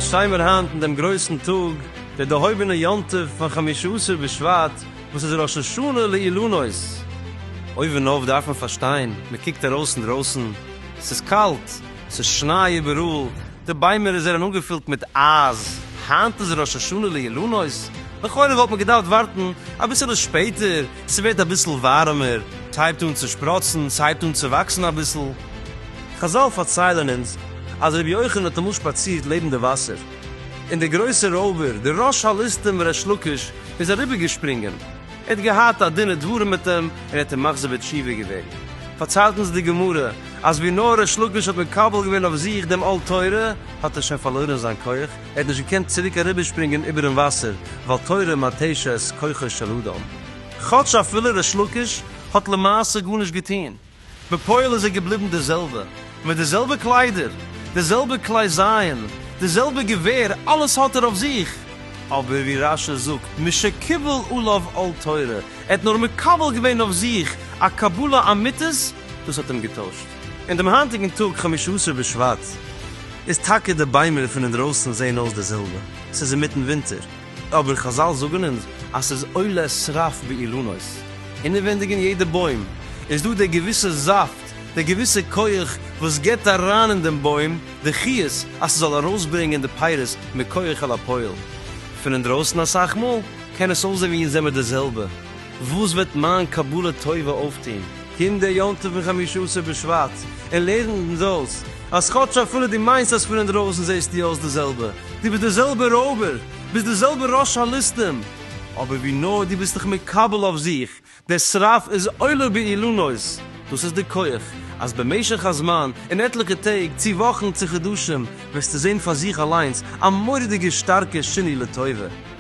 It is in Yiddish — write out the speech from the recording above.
און שטיין מיר היינט אין דעם גרויסן טאג, דער דערהויבענער יום טוב פון חמשה עשר בשבט, וואס איז ראש השנה לאילנות. אויבן אויף דארף מען פארשטיין, מען קוקט ארויס אינדרויסן, ס'איז קאלט, ס'איז שניי איבעראל, די ביימער איז זענען אנגעפילט מיט אייז. היינט איז ראש השנה לאילנות, לכאורה וואלט מען געדארפט ווארטן אביסעלע שפעטער, ס'ווערט אביסל ווארעמער, ס'הייבט אן צו שפראצן, ס'הייבט אן צו וואקסן אביסל. חזל פארציילען אונז אז רבי יוחנן האט אמאל שפאצירט לעבן די וואסער, און דער גרויסער רויבער, דער ראש הליסטים ר' לוקש, איז אריבערגעשפרינגען. ער האט געהאט א דין ודברים מיט אים און ער האט אים מחזיר בתשובה געווען. פארציילט אונז די גמרא אז ווי נאר ריש לקיש האט מקבל געווען אויף זיך דעם עול תורה האט ער שוין פארלוירען זיין כח, ער האט נישט געקענט צוריק אריבערשפרינגען איבערן וואסער ווייל תורה מתשת כוחו של אדם. כאטש אפילו ריש לקיש האט למעשה גארנישט געטוהן. בפועל איז ער געבליבן די זעלבע, מיט די זעלבע קליידער, די זעלבע כלי זיין, די זעלבע געווער, אלעס האט ער אויף זיך, אבער ווי רש י זאגט, משקיבל עליו עול תורה, ער האט נאר מקבל געווען אויף זיך א קבלה אמיתית, דאס האט אים געטוישט. און דעם היינטיגן טאג חמשה עשר בשבט איז טאקע די ביימער פון אינדרויסן זעהן אויס די זעלבע, ס'איז אינמיטן ווינטער, אבער חזל זאגן אונז אז ס'איז עולה שרף באילנות, אינעווענדיג אין יעדע בוים איז דא דער געוויסע זאפט, דער געוויסע כח וואס גיבט אריין אין דעם בוים די חיות אז ס'זאל ארויסברענגען די פירות מכח אל הפועל. פון אינדרויסן אסאך מאל קען עס אויסזען ווי אונז זעמיר די זעלבע, וואס וועט מיין קבלה טובה אויפטון? קום דער יום טוב פון חמישה עשר בשבט און לערנט אונז אויס אז כאטש אפילו דו מיינסט אז פון אינדרויסן זעסטו אויס די זעלבע, דו ביסט דער זעלבער רויבער, ביסט דער זעלבער ראש הליסטים, אבער ווי נאר דו ביסט דיך מקבל אויף זיך, דער שרף איז עולה באילנות, דאס איז די כח, אז במשך הזמן, אין עטליכע טעג, צו וואכן, צו חדשים, וועסטו זען פאר זיך אליינס א מורא'דיגע שטארקע שינוי לטובה.